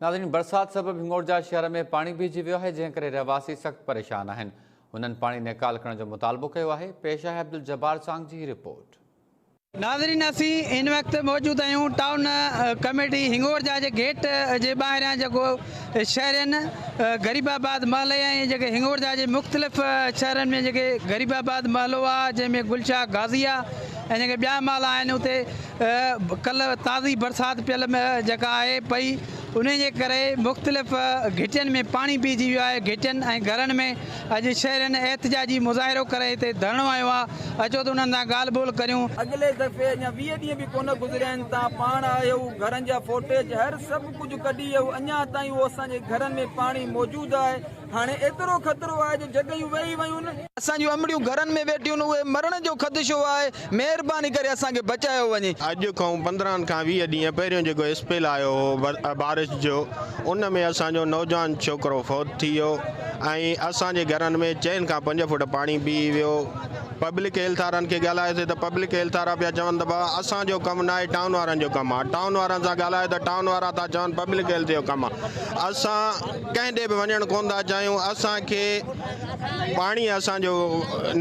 ناظرين برسات سبب هنگورجا شهر ۾ پاڻي بيهجي ويو آهي جنهن ڪري رهواسي سخت پريشان آهن هنن پاڻي نيڪال ڪرڻ جو مطالبو ڪيو آهي پيش آهي عبدالجبار سانگ جي هي رپورٽ. ناظرين اسين هن وقت موجود آهيون ٽائون ڪميٽي هنگورجا جي گيٽ جي ٻاهريان جيڪو شهرين غريب آباد محلي ۽ جيڪي هنگورجا جي مختلف شهرن ۾ جيڪي غريب آباد محلو آهي جنهن ۾ گلشاهه غازي آهي ۽ جيڪي ٻيا محلا آهن اتي ڪلهه تازي برسات پيل جيڪا آهي پئي انهي جي ڪري مختلف گهٽين ۾ پاڻي بيهجي ويو آهي گهٽين ۽ گهرن ۾ اڄ شهرين احتجاجي مظاهرو ڪري هتي ڌرڻو هنيو آهي اچو ته انهن سان ڳالهه ٻولهه ڪريون. اڳلي دفعي اڃا ويهه ڏينهن به ڪونه گذريا آهن تان پاڻ آهيو گهرن جا فوٽيج هر سڀ ڪجهه ڪڍي اهو اڃا تائين اهو اسان جي گهرن ۾ پاڻي موجود آهي هاڻي ايترو خطرو آهي جو جڳهيون وهي ويون. اسان جون امڙيون گهرن ۾ ويٺيون اهي مرڻ جو خدشو آهي مهرباني ڪري اسان کي بچايو وڃي. اڄ کان پندرهن کان ويهه ڏينهن پهريون جيڪو اسپيل آيو هو بارش جو ان ۾ اسان جو نوجوان ڇوڪرو فوت ٿي ويو ۽ اسان جي گهرن ۾ چئن کان پنج فوٽ پاڻي بيهي ويو پبلڪ هيلٿارن کي ڳالهايوسي ته پبلڪ هيلٿارا پيا چون ته ڀا اسان جو ڪم ناهي ٽائون وارن جو ڪم آهي ٽائون وارن سان ڳالهايو ته ٽائون وارا ٿا چون پبلڪ هيلٿ جو ڪم آهي اسان ڪنهن ڏي به وڃڻ ڪونه ٿا چاهيون، اسان کي پاڻي اسان جو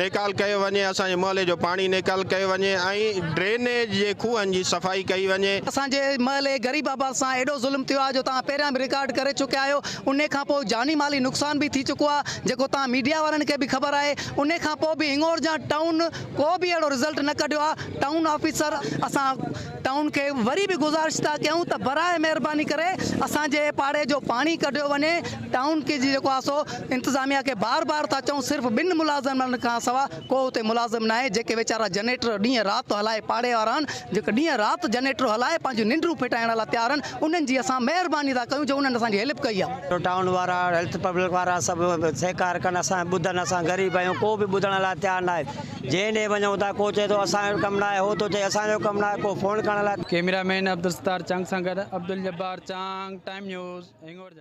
نيڪال ڪيو وڃي، اسان جي محلي جو پاڻي نيڪال ڪيو وڃي ۽ ڊرينيج جي کوهن جي صفائي ڪئي وڃي. اسان جي محلي غريب آباد سان ايڏو ظلم ٿيو آهي جو توهان پهريان به رڪارڊ ڪري چڪيا آهيو، انهي کان پوء جاني مالي نقصان به ٿي چڪو آهي جيڪو توهان ميڊيا وارن کي به خبر آهي، انهي کان پوء به هنڱورجان ٽائون ڪو به اهڙو رزلٽ نه ڪڍيو آهي، ٽائون آفيسر اسان. ٽائون کي وري به گذارش ٿا ڪيون ته برائي مهرباني ڪري اسان جي پاڙي جو پاڻي ڪڍيو وڃي ٽائون کي جيڪو آهي سو انتظاميا کي بار بار ٿا چئون صرف ٻن ملازمن کان سوا ڪو اتي ملازم ناهي جيڪي ويچارا جنريٽر ڏينهن رات ٿو هلائي پاڙي وارا آهن جيڪي ڏينهن رات جنريٽر هلائي پنهنجون ننڊون ڦٽائڻ لاء تيار آهن انهن جي اسان مهرباني ٿا ڪيون جو انهن اسان جي هيلپ ڪئي آهي. ٽائون وارا هيلٿ پبلڪ وارا سڀ سهڪار ڪن اسان کي ٻڌن اسان غريب آهيون ڪو به ٻڌڻ لاء تيار ناهي. جنهن ڏي وڃون ٿا ڪو چئي ٿو اسان جو ڪم ناهي هو ٿو چئي اسان جو ڪم ناهي ڪو فون ڪرڻ لاء ڪيميرا مين عبدالستار چنگ سان گڏ عبدالجبار چانگ ٽائيم نيوز هنگور جا.